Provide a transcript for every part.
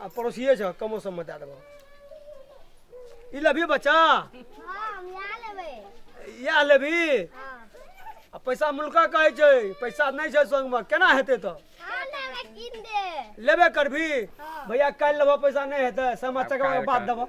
आ पड़ोसिए छ कमो सममे दए देबह ई लेबही बच्चा इएह लेबही आ पैसा मुल्का कहै छै पैसा नहि छै संगमे केना हेतै तऽ लेबे करबी भैया काल्हि लेबह पैसा नहि हेतै सामा चकेबा के बाद देबह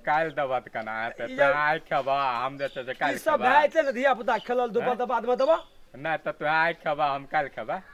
काल्हि देबह तऽ केना हेतै ई तोरा आइ खेबह हम जे छै से ई काल्हि सब खेबह भए जेतै ने धिया पुता खेलल धुपल तऽ बादमे देबह नहि तऽ तोरा आइ खेबह हम काल्हि खेबह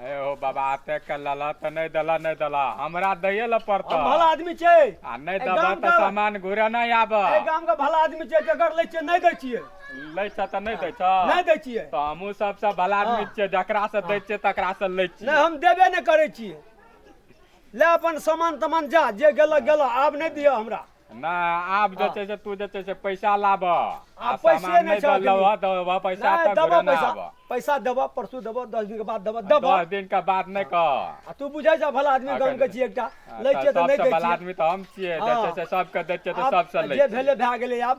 अरे हो बाबा आते के लला त नहीं दला नहीं दला हमरा दये ल पड़ता हम भला आदमी छै आ नहीं ए, दबा गाम त का- सामान घुरे नहीं आब एहि गाम के भला आदमी छै जकर लै छियै नहि दै छियै लै छ त नहीं दै छ नहि दै छियै त हमहू सबसे भला आदमी हाँ। छियै जकरा से दै छियै तकरा से लै छियै नहि हम देबे नहि करै छियै ले अपन सामान तमान जा जे गेलक गेलक आब नहि दिअ हमरा नहि आब जे हँ छै से तू जे छै से पैसा लाबह आ आब पैसे सामान नहि नहि छौ दऽ एखनी। लबह तऽ वएह पैसा नहि तऽ देबऽ घुरे नहि पैसा आबह पैसा देबऽ परसू देबऽ दस दिनके बाद देबऽ देबऽ दस दिन के बाद नहि कह आ तू बुझै छऽ भला आदमी अखन- गामके छियै एकटा लै छियै तऽ नहि सबसँ दै भला छियै आदमी तऽ हम छियै जे हँ। छै से सबके दै छियै तऽ आब सबसँ लै जे छियै। भेलै भए गेलै आब